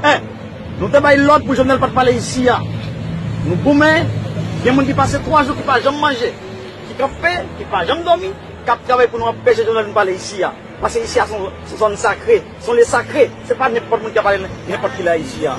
Eh! Nou te bay lòd pou Jovenel pat pale isi a. Nou goumen, gen moun ki pase 3 jou ki pa janm manje, ki kanpe, ki pa janm dòmi, kap travay pou nou anpeche Jovenel vin pale isi a. Pase isi a son zòn sakre, son lye sakre, se pa nenpòt moun ki ap ale nenpòt kilè isi a.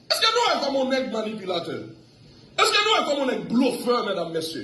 Eske nou wè kòman yon nèg manipilatè? Eske nou wè kòman yon nèg blofè mèdam mesye?